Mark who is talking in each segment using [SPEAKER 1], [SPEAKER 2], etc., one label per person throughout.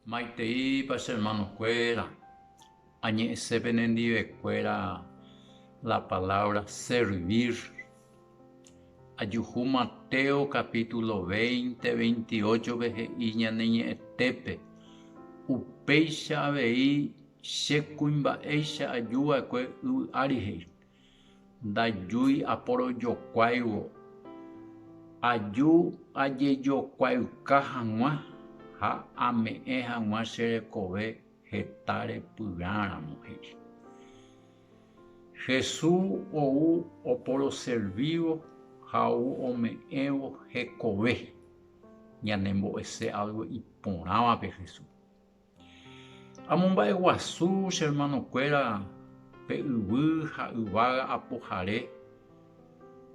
[SPEAKER 1] Maiteipa che hermanokuéra, añe'ẽse penendivekuéra la palabra servir. Ajuhu Mateo capítulo veinte, veintiocho-pe he'i Ñaneñe'ẽtépe, Upéicha avei, che kuimba'éicha ajuva'ekue yvy ári he'i. Ndajúi aporojokuáivo, aju ajejokuayka hag̃ua ha ame'ẽ hag̃ua che rekove heta repyrãramo, he'i. Jesús ou oporoservívo ha ou ome'ẽvo hekove ñanembo'ese álgo iporãvape Jesúspe. Amomba'eguasu che hermanokuéra pe yvy ha yvága apohare,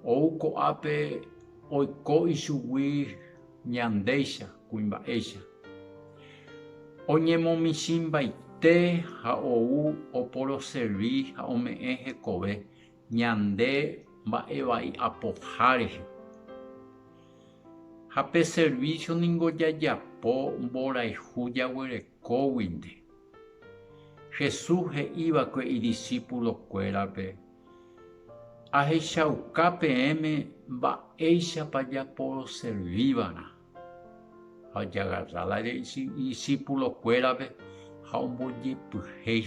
[SPEAKER 1] ou ko'ápe oiko ichugui ñandéicha kuimba'éicha. Oñemomichĩmbaite ha ou oporoservi ha ome'ẽ hekove ñande mba'evai apoha rehe. Ha pe servicio ningo jajapo mborayhu jaguerekóguinte. Jesús he'ívakue idisípulokuérape, Ahechauka peẽme mba'éichapa japoroservíva'erã. Ha ojagarra la idisípulokuérape ha ombojepyhéi.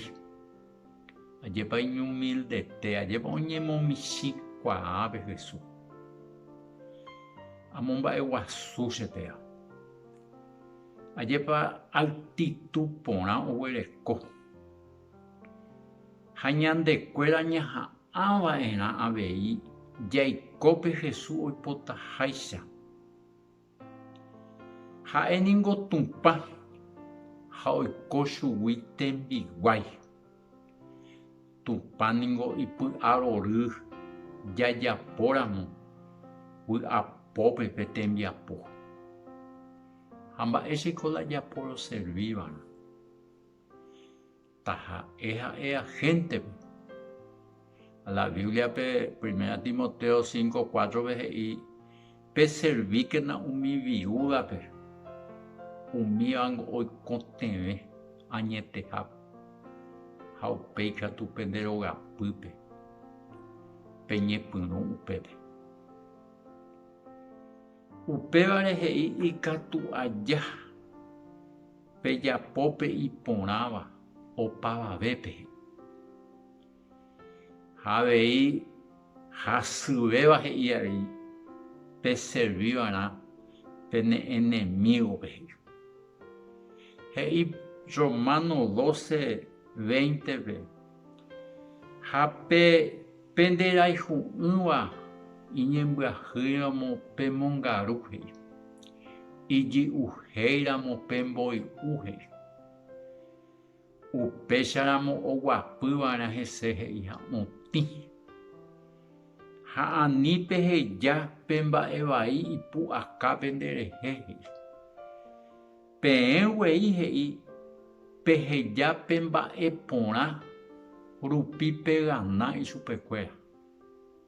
[SPEAKER 1] Ajépa iñumildete, ajépa oñemomichĩ kuaa pe Hesu. Amomba'eguasu che téra. Ajépa altitu porã oguereko. Ha ñande kuéra ñaha'ã va'erã avei jaiko pe Hesu oipotaháicha. Ha'e ningo Tupã ha oiko chugui tembiguái. Tupã ningo ipy'arory jajapóramo vy'apópe pe tembiapo. Ha mba'éichiko la japoroservíva'erã. Taha'e ha'e agéntepe. La Bíbliape Primera Timoteo cinco cuátrope he'i, Peservíkena umi viúdape, umívango oikotevẽ añetehápe, ha upéi katu pende rogapýpe peñepyrũ upépe. Upévare he'i ikatu aja. Pejapo pe iporãva opavavépe. Ha avei hasyvéva he'i avei peservi va'erã pene enemígope he'i. He'i Romano doce, veintepe, Ha pe pende rayhu'ỹva iñembyahýiramo pe mongaru he'i, ijy'uhéiramo pe mboy'u he'i. Upécharamo oguapyva'erã hese he'i ha otĩ. Ha ani peheja pe mba'e vai ipu'akápe nderehe he'i. Peẽ guei he'i peheja pe mba'e porã rupi pegana ichupekuéra,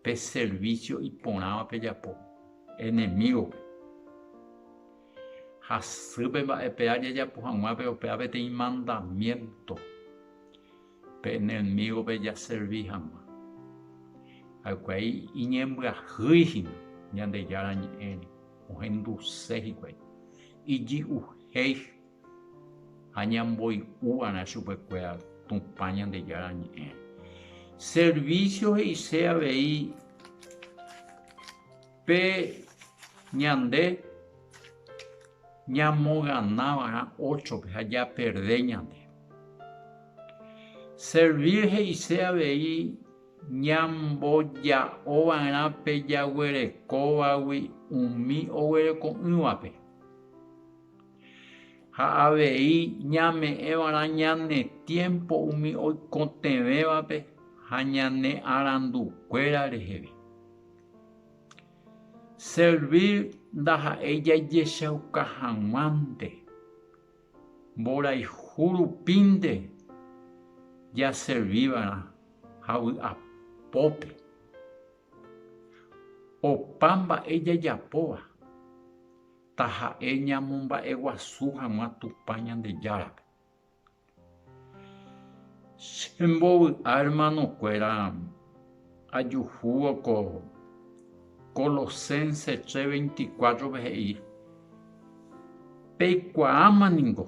[SPEAKER 1] pe servicio iporãva pejapo enemígope. Hasýpe mba'epe'a jajapo hag̃ua pe opéva peteĩ mandamiénto. Pe enemígove jaservi hag̃ua ha'ekuai iñembyahýi hína Ñandejára Ñe'ẽre, ohenduse hikuái iji'uhéi ha ñamboy'u va'erã chupekuéra Tupã Ñandejára Ñe'ẽre. Servísio he'ise avei pe ñande. Ñamogana va'erã óchope ha japerde ñande. Servir he'ise avei ñamboja'o va'erã pe jaguerekóvagui umi oguereko'ỹvape. Ha avei ñame'ẽ va'erã ñane tiémpo umi oikotevẽvape ha ñane arandukuéra reheve. Servir ndaha'éi jajechauka hag̃uánte. Mborayhu rupínte jaservíva'erã ha vy'apópe. Opa mba'e jajapóva taha'e ñamomba'eguasu hag̃ua Tupã Ñandejárape. Che mbovy'a hermanokuéra ajuhúvo ko Colosenses tre veinticuátrope he'i, Peikuaáma ningo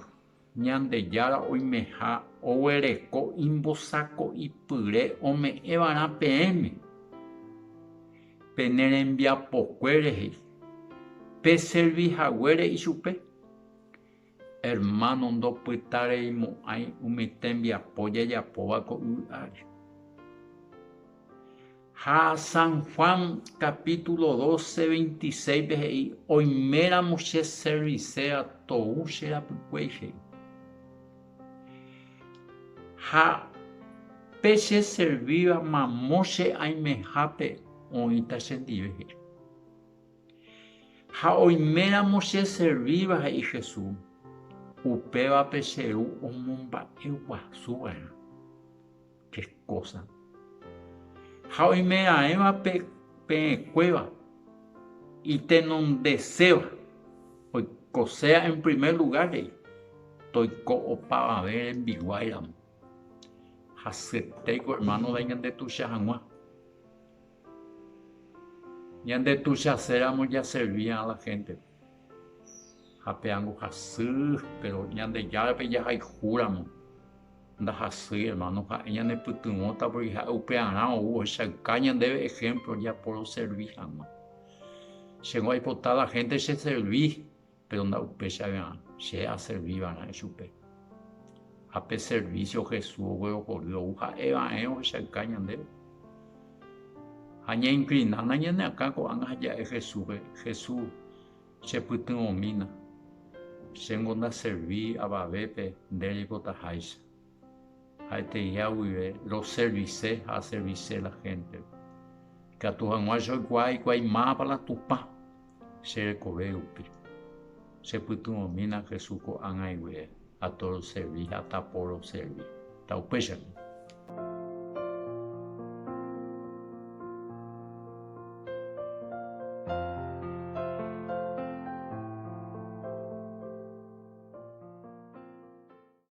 [SPEAKER 1] Ñandejára oimeha oguereko imbosako'ipyre ome'ẽvarã peẽme pene rembiapokuére rehe, peservi haguére ichupe. Hermano ndopytareimo'ãi umi tembiapo jajapóva ko yvy ári. Ha San Juan capítulo 12, 26-pe he'i, Oiméramo che serviséva tou che rapykuéi, he'i. Ha pe che servíva mamo che aimehápe oĩta chendive, he'i. Ha oiméramo cheservíva, he'i Jesús, upévape che Ru omomba'eguasuva'erã che kósa. Ha oimeraẽva peẽkuéva itenondeséva oikosea en primer lugar rei, toiko opavave rembiguáiramo. Hasyetéiko hermano-da iñandetuicha hag̃ua. Ñande tuichaséramo jaservíva la héntepe, ha pe angohasy, péro Ñandejárape jahayhúramo ndahasýi. Ermáno ha'e ñanepytyvõta pórke ha'e upearã ou ohechauka ñandéve ehémplo japoroservi hag̃ua. Chéngo aipota la hénte cheservi Péro nda'upéichaga'ã che aservi va'erã ichupe. Ha pe servísio Jesús oguerohory ou ha'e va'erã ohechauka ñandéve. Ha ñainklinaána ñane akã ko'ág̃a ha ja'e Jesúspe, Jesús, chepytyvõmína. Chéngo ndaservi avavépe nde reikotaháicha. ha'eteíha guive roservise ha aservise la héntepe. Ikatu hag̃ua che oikuaa hikuái mápa la Tupã che rekove rupi. Chepytyvõmína Jesús ko'ág̃ai guive atoroservi ha taporoservi. Taupéichagui.